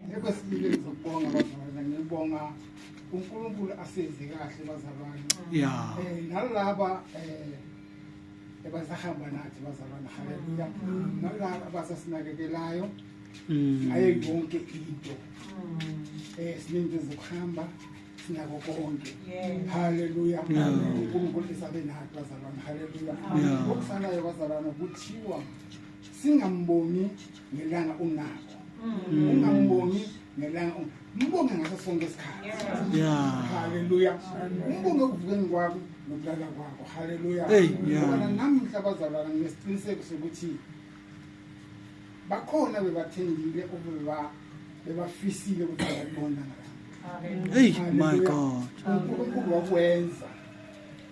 Ekwesibili ngizokubonga bazalwane ngibonga uNkulunkulu asenze kahle bazalwane. Yeah. Eh nalaba eh ebasahamba nathi bazalwane haleluya. Mm. Nalaba abasasinakekelayo mm. ngayo yonke into. Mm. Eh siningi zokuhamba sinako konke. Haleluya. uNkulunkulu isabe nathi bazalwane haleluya. Okusanayo bazalwane kuthiwa singambongi ngelanga unakho mm. ungambongi ngelanga mbonge ngaso sonke isikhathi haleluya umbonge ekuvukeni kwakho nokulala kwakho haleluya bona namhla bazalwana nginesiqiniseko sokuthi bakhona bebathembile obeba bebafisile ukuthi babona ngala hey my god unkulunkulu wakwenza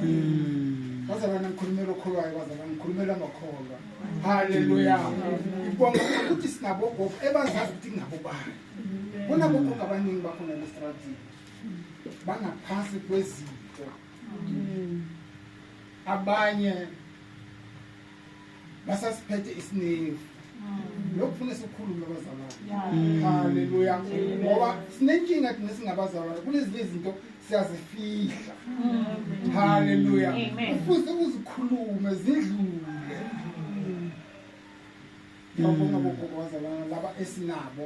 hmm. bazalwane ngikhulumela okholwayo bazalwane ngikhulumela amakholwa haleluya ngibonga ukuthi sinabogogo ebazazi ukuthi ngabo bani kunabogogo abaningi bakhona lesitratini bangaphansi kwezinto abanye basasiphethe isiningi lokufuna sikhulume abazalwane haleluya ngoba sinenkinga thina singabazalwane kunezinye izinto siyazifihla haleluya kufuze uzikhulume zidlule ngiyabonga bogogo bazalwana laba esinabo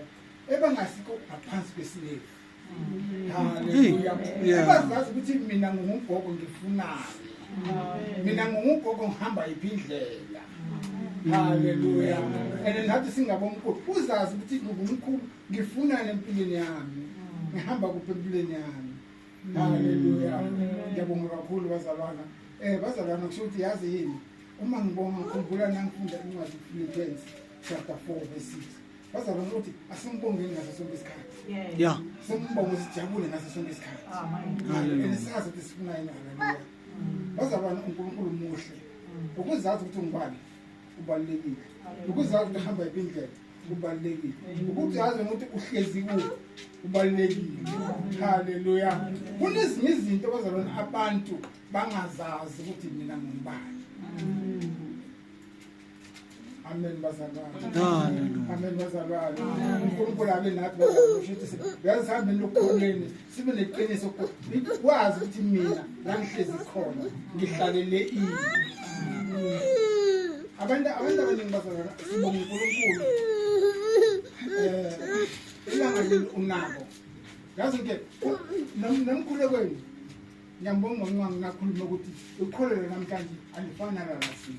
ebangasikho ngaphansi kwesilevu ebazazi ukuthi mina ngingugogo ngifunani mina ngingugogo ngihamba yiphi indlela haleluya and nathi singabomkhulu uzazi ukuthi ngingumkhulu ngifunani empilweni yami ngihamba kuphi empilweni yami haleluya ngiyabonga kakhulu bazalwana um bazalwana kusho ukuthi yazi yini uma ngibonga khumbula nangifunda incwadi philippensi chapter four verse six bazalwa ukuthi asimbongeni ngaso sonke isikhathi ya simbonge sijabule ngaso sonke isikhathi and sazi ukuthi sifunayini haleluya bazalwana unkulunkulu muhle ukuzazi ukuthi ungubani kubalulekile ukuzazi ukuthi hamba yiphi indlela kubalulekile ukuthi yazi ukuthi uhlezi kuphi kubalulekile haleluya kunezinye izinto bazalwana abantu bangazazi ukuthi mina ngingubani Amen bazalwane. Amen bazalwane. uNkulunkulu abe nathi bazalwane usho ukuthi yazi sihambe lokukhoneni sibe neqiniso kwazi ukuthi mina la ngihlezi khona ngihlalele ini. Abantu abantu abaningi bazalwane sibonga uNkulunkulu. Eh ilanga leli unako. Yazi ke nomkhulekweni Ngiyambonga uNcwangu ngakhuluma ukuthi ukholelo namhlanje alifani nalalasin.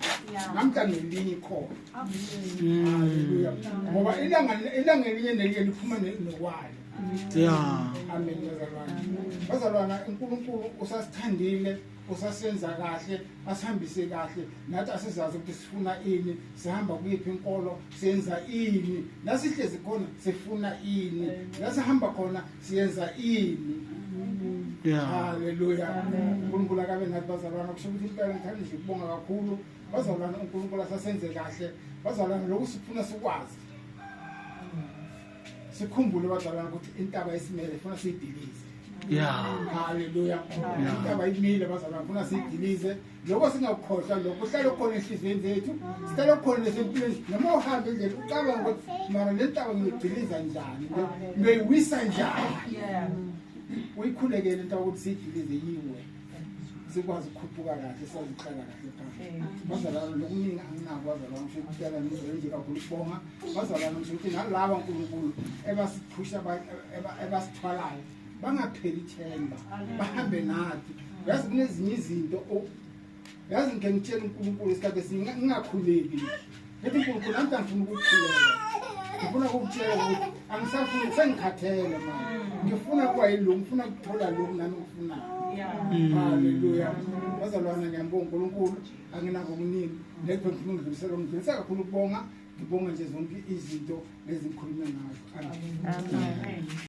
Namhlanje elinye ikhona. Haleluya. Ngoba ilanga ilanga elinye nelinye liphuma nokwalo. Yeah. Amen bazalwana. Bazalwana uNkulunkulu usasithandile usasenza kahle asihambise kahle nathi asizazi ukuthi sifuna ini sihamba kuyiphi inkolo senza ini nasihlezi khona sifuna ini nasihamba khona siyenza ini haleluya unkulunkulu akabe nathi bazalwana kusho ukuthi impela ngithanda nje ukubonga kakhulu bazalwana unkulunkulu asasenze kahle bazalwana lokhu sifuna sikwazi sikhumbule bazalwana ukuthi intaba isimele funa siyidilize ya haleluya intaba imile bazalwana funa siyidilize lokho singakukhohlwa lokho uhlale ukhona enhliziyweni zethu sihlale ukhona nesempilweni noma uhambe endlela ucabanga ukuthi mara le ntaba ngiyigciliza njani ngiyoyiwisa njani uyikhulekele into ukuthi siyigcilize yiwe sikwazi ukukhuphuka kahle sazi ukuhlala kahle phambili bazalwana lokuningi anginako bazalwana ngisho ukutela ngizole nje kakhulu ukubonga bazalwana ngisho ukuthi nalaba nkulunkulu ebasiphusha ebasithwalayo bangapheli ithemba bahambe nathi yazi kunezinye izinto yazi ngike ngitshela unkulunkulu isikhathi esiningi ngingakhuleki ethi nkulunkulu nami kangifuna ukukhuleka ngifuna ukukutshela ukuthi angisafuni sengikhathele manje ngifuna kuba yilo ngifuna kuthola lokhu nami ngikufunayo halleluya bazalwana ngiyambonga unkulunkulu anginako okuningi nekho ngifuna ukudlulisela ngidlulisa kakhulu ukubonga ngibonga nje zonke izinto nezikhulume ngazo amen